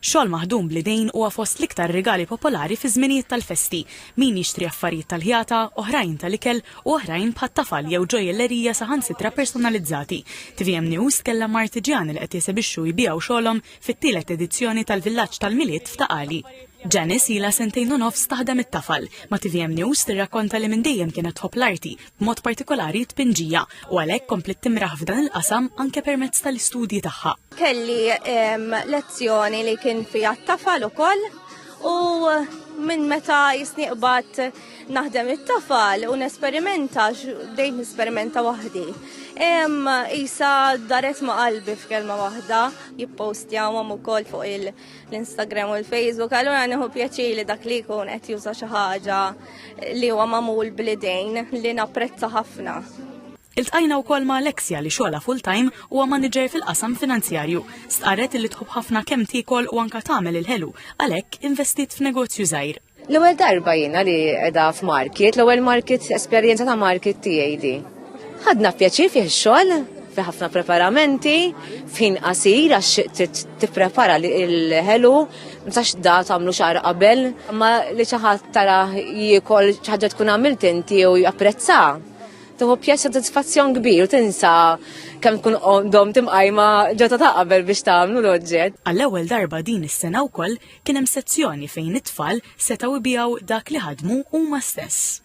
Xogħol maħdum bl-idejn huwa fost l-iktar rigali popolari fiż-żminijiet tal-festi. Min jixtri affarijiet tal-ħjata, oħrajn tal-ikel u oħrajn bħat-tafal jew ġojjellerija saħansitra personalizzati. Tvm News tkellem ma' artiġjani li qed jesebixxu u jbigħu xogħolhom fit-tielet edizzjoni tal-Villaġġ tal-Milied f'Ta' Qali. Janice ilha sentejn u nofs taħdem it-tafal. Ma' tvm News tirrakkonta li minn dejjem kienet tħobb l-arti, b'mod partikolari t-tpinġija, u għalhekk kompliet timraħ f'dan il-qasam anke permezz tal-istudji tagħha. Kelli lezzjoni li kien fija t-tafal ukoll u minn meta jisniqbat naħdem it-tafal u nesperimenta, bdejt nesperimenta waħdi. Isa daret ma' qalbi f'kelma waħda, jippostjawhom ukoll fuq l-Instagram u l-Facebook, allura nieħu pjaċir li dak li jkun qed juża xi ħaġa li huwa magħmul bl-idejn li napprezza ħafna. Iltqajna wkoll ma' Alexia li xogħolha full-time huwa maniġer fil-qasam finanzjarju. Stqarret li tħobb ħafna kemm tiekol u anke tagħmel il-ħelu, għalhekk investiet f'negozju żgħir. L-ewwel darba jiena li qiegħda f'market, l-ewwel market esperjenza ta' market tiegħi di. Ħadna pjaċir fih ix-xogħol, fi ħafna preparamenti, f'ħin qasir għax trid tipprepara l-ħelu, ma sax da tagħmlu xahar qabel, ma li xi ħadd tara jiekol xi ħaġa tkun għamilt inti u japprezza. Tuħu pjaċ sodisfazzjon kbir u tinsa kemm tkun dom timqajma ġota ta' qabel biex tagħmlu l-oġġett. Għall-ewwel darba din is-sena wkoll kien hemm sezzjoni fejn it-tfal setgħu jbiegħu dak li ħadmu huma stess.